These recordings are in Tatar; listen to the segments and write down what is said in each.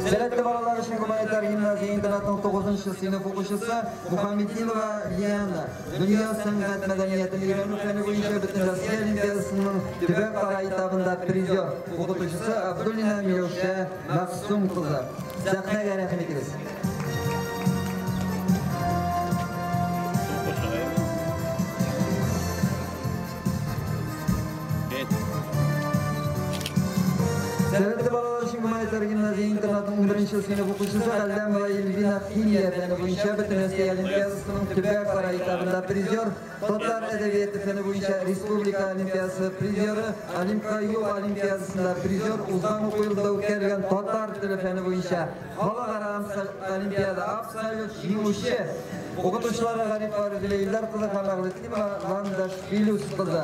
Сәләтле балалар өчен гуманитар гимназия интернатының 9 сыйныф укучысы Мухаммединова Лиана дөнья сәнгать мәдәниятен өйрәнү фәне буенча бөтен Россия олимпиадасының төбәк кара этабында призер, укытучысы Абдуллина Миләүшә Мәгъсүм кызы, сәхнәгә рәхим итегез. Сәләтле балалар өчен гуманитар гимназия интернатының беренче сыйныф укучысы Әлдәмова Эльвина химия фәне буенча бөтен Россия олимпиадасының төбәк сарай этабында призер Татар әдәбияты фәне буенча республика олимпиадасы призеры, Олимпка юл олимпиадасында призер, узган уку елда үткәрелгән татар теле фәне буенча халыкара олимпиада абсолют җиңүче укытучылары Гариф Рәзилә Илдар кызы һәм Әгълетима Ландаш Илюс кызы.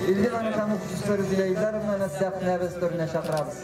Илдин Анкам укытучысы Рәзилә Илдаровнаны сәхнәбез төренә чакырабыз.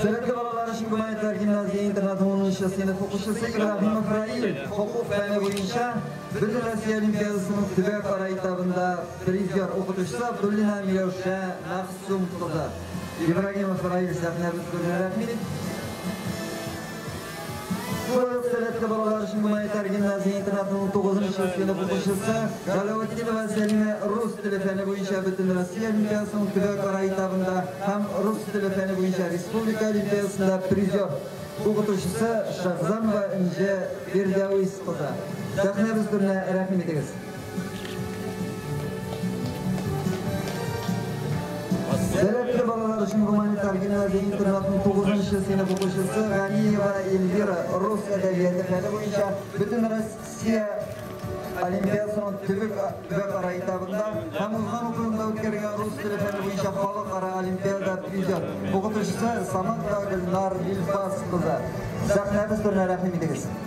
Сәләтле балалар өчен Гүмәнәтләр гимназия интернаты 10 нчы сыйныф укучысы Ибраһимов Раил хокук фәне буенча Бөтен Россия Олимпиадасының төбәкара этабында призер укытучысы Абдуллина Миләүшә Мәгъсүм кызы. Ибраһимов Раил сәхнәбез күренә рәхмит. Бу ел сәләтле балалар өчен гуманитар гимназия интернатының 9 нчы сыйныф укучысы Галәветдинова Сәлимә рус теле фәне буенча Бөтенроссия олимпиадасының төбәкара этабында һәм рус теле фәне буенча республика олимпиадасында призер, укытучысы Шәгъзамова Энҗе Фирдәвис кызы. Сәхнәбез түренә рәхим итегез! Сәләтле балалар өчен гуманитар гимназия интернатының 9-нчы сыйныф укучысы Ганиева Эльвира рус әдәбияты фәне буенча бөтен Россия олимпиадасының төбәк бөкара этабында һәм узган укуында үткәргән рус теле фәне буенча халыкара олимпиада призер укытучысы Саманта Гөлнар Илфас кызы. Сәхнәбез турына рәхим итегез.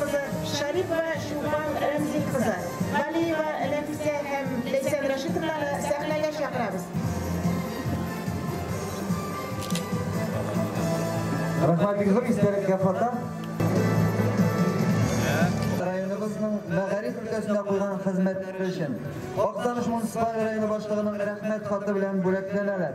кызы Шәрипова Чулпан Рәмзил кызы, Галиева Нәфисә һәм Ләйсән Рәшитовнаны сәхнәгә чакырабыз. Рәхмәт бик зур, истәлеккә фото. Районыбызның мәгариф өлкәсендә куйган хезмәтләре өчен Актаныш муниципаль районы башлыгының Рәхмәт хаты белән бүләкләнәләр.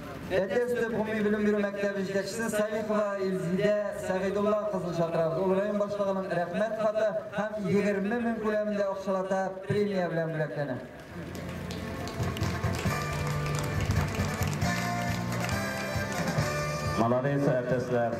Әтәч төп гомуми белем бирү мәктәбе җитәкчесе Салихова Илзидә Сәгыйдулла кызын чакырабыз. Ул район башлыгының Рәхмәт хаты һәм 20 мең күләмендә акчалата премия белән бүләкләнә. Молодец, әтәсләр!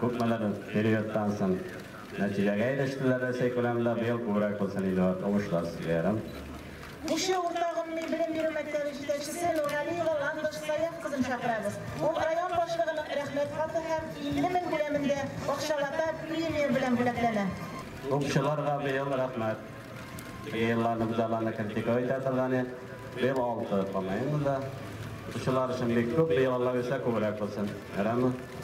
Күпмедер периодтан соң нәтиҗәгә ирештеләр, Рәсәй күләмендә быел күбрәк булсын иде ат, уңышлар сезгә ярым. Кече урта гомуми белем бирү мәктәбе җитәкчесе Нургалиева Ландыш Саяф кызын чакырабыз. Ул район башлыгының Рәхмәт хаты һәм 50 мең күләмендә бакчалата премия белән бүләкләнә. Укчыларга быел рәхмәт. Теге елларны без аларны критиковать итә торган идек. Быел алты, по-моему да. Укучылар өчен бик күп, быел Алла бирсә күбрәк булсын. Ярыймы?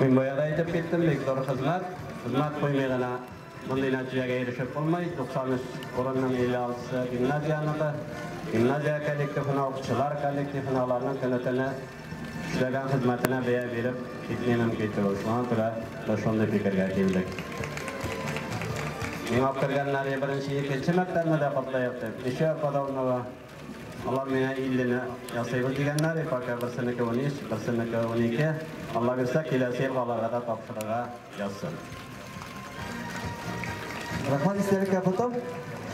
Мин бая да әйтеп киттем, бик зур хезмәт. Хезмәт куймый гына мондый нәтиҗәгә ирешеп булмый. 93 урынның 56-сы гимназияныкы. Гимназия коллективына, укытучылар коллективына, аларның көне-төне эшләгән хезмәтенә бәя биреп китми мөмкин түгел. Шуңа күрә без шундый фикергә килдек. Миңа үк кергәннәр, беренче, икенче мәктәпне дә котлыйк дип, кече Подобного Алар миңа иллене ясыйбыз дигәннәр, ипока берсенеке унөч, берсенеке унике, Алла бирсә, киләсе елга аларга да тапшырырга язсын. Рәхмәт истәлеккә фото.